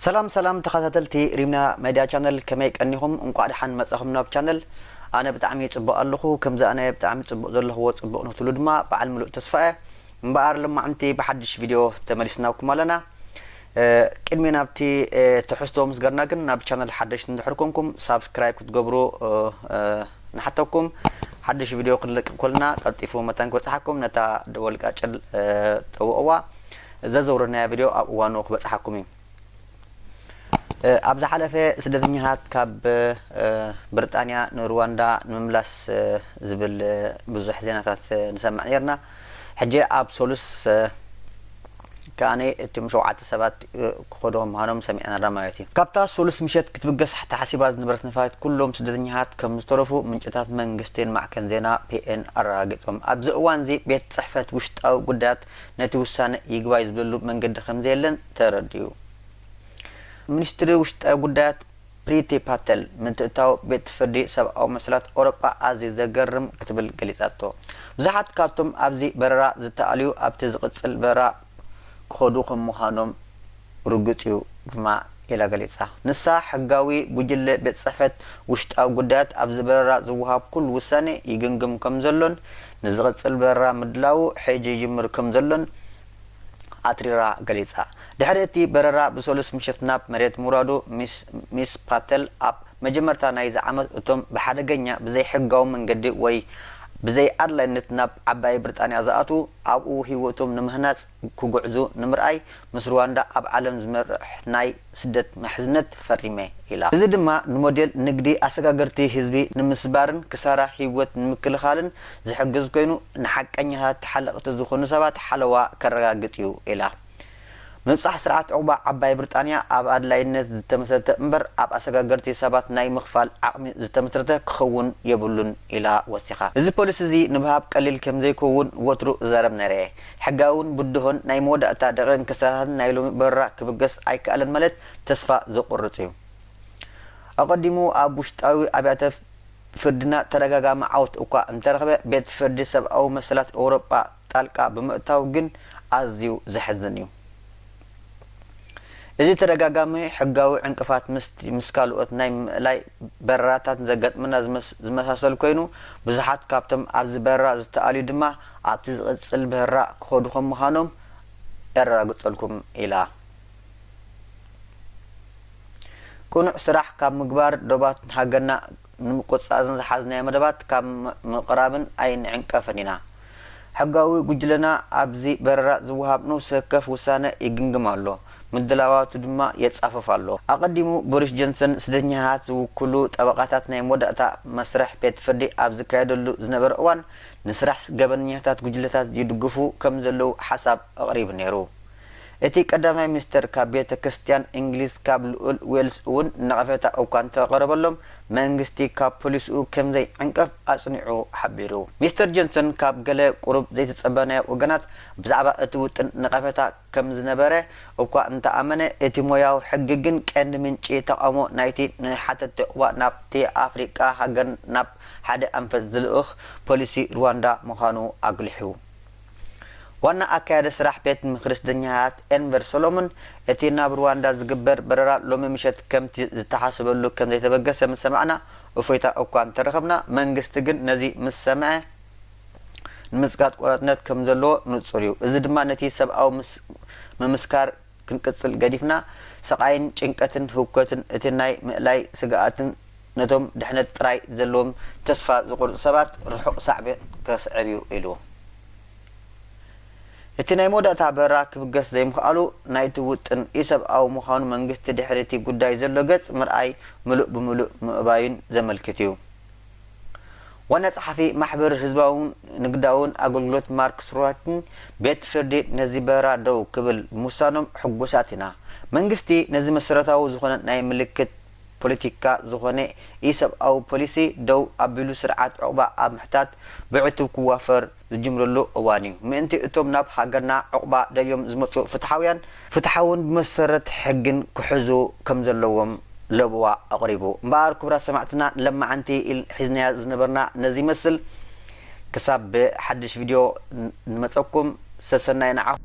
ሰላም ሰላም ተኻታተልቲ ሪምና መድያ ቻነል ከመይ ቀኒኹም እንቋዕ ድሓን መጻኹም ናብ ቻነል ኣነ ብጣዕሚ ጽቡቕ ኣለኹ ከምዚ ኣነ ብጣዕሚ ጽቡቕ ዘለኽዎ ጽቡቕ ንኽትብሉ ድማ ብዓል ምሉእ ተስፋ እየ እምበኣር ሎማዕንቲ ብሓድሽ ቪድዮ ተመሊስናኩም ኣለና ቅድሚ ናብቲ ትሕዝቶ ምስገርና ግን ናብ ቻነል ሓደሽቲ እንድሕር ኮንኩም ሳብስክራይብ ክትገብሩ ንሓተኩም ሓዱሽ ቪድዮ ክንለቅ ኮልና ቀልጢፉ መታን ክበጽሓኩም ነታ ደወል ቃጭል ጠውቅዋ ዘዘውረድናያ ቪድዮ ኣብ እዋኑ ክበጽሓኩም እዩ ኣብ ዝሓለፈ ስደተኛታት ካብ ብርጣንያ ንሩዋንዳ ንምምላስ ዝብል ብዙሕ ዜናታት ንሰምዕ ኔርና ሕጂ ኣብ ሰሉስ ከኣ እቶም ሸውዓተ ሰባት ክኸዱ ምዃኖም ሰሚዕና ኣሎና ማለት እዩ። ካብታ ሰሉስ ምሸት ክትብገስ ተሓሲባ ዝነበረት ነፋሪት ኩሎም ስደተኛታት ከም ዝተረፉ ምንጭታት መንግስቲን ማዕከን ዜና ፒኤን ኣረጋጊጾም። ኣብዚ እዋን'ዚ ቤት ጽሕፈት ውሽጣዊ ጉዳያት ነቲ ውሳነ ይግባይ ዝብለሉ መንገዲ ከም ዘየለን ተረዲኡ። ምኒስትሪ ውሽጣዊ ጉዳያት ፕሪቲ ፓተል፣ ምትእትታው ቤት ፍርዲ ሰብኣዊ መሰላት ኣውሮጳ ኣዝዩ ዘገርም ክትብል ገሊጻቶ። ብዙሓት ካብቶም ኣብዚ በረራ ዝተኣልዩ ኣብቲ ዝቕጽል በረራ ክኸዱ ከም ምዃኖም ርጉጽ'ዩ ድማ ኢላ ገሊጻ። ንሳ፣ ሕጋዊ ጉጅለ ቤት ጽሕፈት ውሽጣዊ ጉዳያት ኣብዚ በረራ ዝወሃብ ኩሉ ውሳነ ይግምግም ከም ዘሎን ንዝቕጽል በረራ ምድላዉ ሕጂ ይጅምር ከም ዘሎን፣ ኣትሪራ ገሊጻ። ድሕሪ እቲ በረራ ብሰሉስ ምሸት ናብ መሬት ምውራዱ፣ ሚስ ፓተል ኣብ መጀመርታ ናይዚ ዓመት እቶም ብሓደገኛ፣ ብዘይሕጋዊ መንገዲ ወይ ብዘይ ኣድላይነት ናብ ዓባይ ብሪጣንያ ዝኣትዉ ኣብኡ ህይወቶም ንምህናጽ ክጉዕዙ ንምርኣይ ምስ ሩዋንዳ ኣብ ዓለም ዝመርሕ ናይ ስደት ምሕዝነት ፈሪመ ኢላ። እዚ ድማ ንሞዴል ንግዲ ኣሰጋገርቲ ህዝቢ ንምስባርን ክሳራ ህይወት ንምክልኻልን ዝሕግዝ ኮይኑ ንሓቀኛታት ተሓለቕቲ ዝኾኑ ሰባት ሓለዋ ከረጋግፅ እዩ ኢላ። ምብፃሕ ስርዓት ዑቕባ ዓባይ ብርጣንያ ኣብ ኣድላይነት ዝተመስረተ እምበር ኣብ ኣሰጋገርቲ ሰባት ናይ ምኽፋል ዓቕሚ ዝተመስረተ ክኸውን የብሉን ኢላ ወሲኻ። እዚ ፖሊሲ እዚ ንብሃብ ቀሊል ከምዘይከውን ወትሩ እዛረብ ነይረ እየ። ሕጋውን ብድሆን ናይ መወዳእታ ደቒቕን ክስተታትን ናይ ሎሚ በረራ ክብገስ ኣይከኣለን ማለት ተስፋ ዘቑርጽ እዩ። ኣቐዲሙ ኣብ ውሽጣዊ ኣብያተ ፍርድና ተደጋጋሚ ዓወት እኳ እንተረኽበ፣ ቤት ፍርዲ ሰብኣዊ መሰላት ኤውሮጳ ጣልቃ ብምእታው ግን ኣዝዩ ዘሕዝን እዩ። እዚ ተደጋጋሚ ሕጋዊ ዕንቅፋት ምስቲ ምስ ካልኦት ናይ ምእላይ በረራታት ዘጋጥመና ዝመሳሰል ኮይኑ፣ ብዙሓት ካብቶም ኣብዚ በረራ ዝተኣልዩ ድማ ኣብቲ ዝቕጽል በረራ ክኸዱ ከም ምዃኖም የረጋግጸልኩም ኢላ። ቅኑዕ ስራሕ ካብ ምግባር ዶባት ሃገርና ንምቁጽጻር እዘን ዝሓዝናዮ መደባት ካብ ምቕራብን ኣይንዕንቀፍን ኢና። ሕጋዊ ጉጅለና ኣብዚ በረራ ዝወሃብ ነውሲ ወከፍ ውሳነ ይግምግም ኣሎ፣ ምድላዋቱ ድማ የጻፍፍ ኣሎ። ኣቐዲሙ ቦሪስ ጆንሰን ስደተኛታት ዝውክሉ ጠበቓታት ናይ መወዳእታ መስርሕ ቤት ፍርዲ ኣብ ዝካየደሉ ዝነበረ እዋን ንስራሕ ገበነኛታት ጉጅለታት ይድግፉ ከም ዘለዉ ሓሳብ ኣቕሪቡ ነይሩ። እቲ ቀዳማይ ሚኒስተር ካብ ቤተ ክርስትያን እንግሊዝ ካብ ልኡል ዌልስ እውን ነቐፌታ እኳ እንተቐረበሎም መንግስቲ ካብ ፖሊሲኡ ከም ዘይዕንቀፍ ኣጽኒዑ ሓቢሩ። ሚስተር ጆንሰን ካብ ገለ ቁሩብ ዘይተጸበናዮ ወገናት ብዛዕባ እቲ ውጥን ነቐፌታ ከም ዝነበረ እኳ እንተ ኣመነ እቲ ሞያዊ ሕጊ ግን ቀንዲ ምንጪ ተቓውሞ ናይቲ ንሓተትቲ ዑቕባ ናብቲ ኣፍሪቃ ሃገር ናብ ሓደ ኣንፈት ዝልእኽ ፖሊሲ ርዋንዳ ምዃኑ ኣጉሊሑ። ዋና ኣካያዲ ስራሕ ቤት ምኽሪ ስደኛታት ኤንቨር ሶሎሙን፣ እቲ ናብ ሩዋንዳ ዝግበር በረራ ሎሚ ምሸት ከምቲ ዝተሓሰበሉ ከም ዘይተበገሰ ምስ ሰማዕና እፎይታ እኳ እንተረኸብና፣ መንግስቲ ግን ነዚ ምስ ሰምዐ ንምጽጋጥ ቆራጽነት ከም ዘለዎ ንጹር እዩ። እዚ ድማ ነቲ ሰብኣዊ ምምስካር ክንቅጽል ገዲፍና ስቓይን ጭንቀትን ህውከትን እቲ ናይ ምእላይ ስግኣትን ነቶም ድሕነት ጥራይ ዘለዎም ተስፋ ዝቑርጹ ሰባት ርሑቕ ሳዕቤን ከስዕብ እዩ ኢሉ። እቲ ናይ መወዳእታ በረራ ክብገስ ዘይምኽኣሉ ናይቲ ውጥን ኢ-ሰብኣዊ ምዃኑ መንግስቲ ድሕሪ እቲ ጉዳይ ዘሎ ገጽ ምርኣይ ምሉእ ብምሉእ ምእባዩን ዘመልክት እዩ። ዋና ጸሓፊ ማሕበር ህዝባውን ንግዳውን ኣገልግሎት ማርክ ስሩዋትን፣ ቤት ፍርዲ ነዚ በረራ ደው ክብል ብምውሳኖም ሕጉሳት ኢና። መንግስቲ ነዚ መሰረታዊ ዝኾነ ናይ ምልክት ፖለቲካ ዝኾነ ኢሰብኣዊ ፖሊሲ ደው ኣቢሉ ስርዓት ዑቕባ ኣብ ምሕታት ብዕቱብ ክዋፈር ዝጅምረሉ እዋን እዩ። ምእንቲ እቶም ናብ ሃገርና ዑቕባ ደልዮም ዝመጹ ፍትሓውያን፣ ፍትሓውን ብመሰረት ሕግን ክሕዙ ከም ዘለዎም ለበዋ ኣቕሪቡ። እምበኣር ክቡራት ሰማዕትና ለማዓንቲ ኢል ሒዝናያ ዝነበርና ነዚ ይመስል። ክሳብ ብሓድሽ ቪድዮ ንመጸኩም ሰሰናዩ ንዓኹም።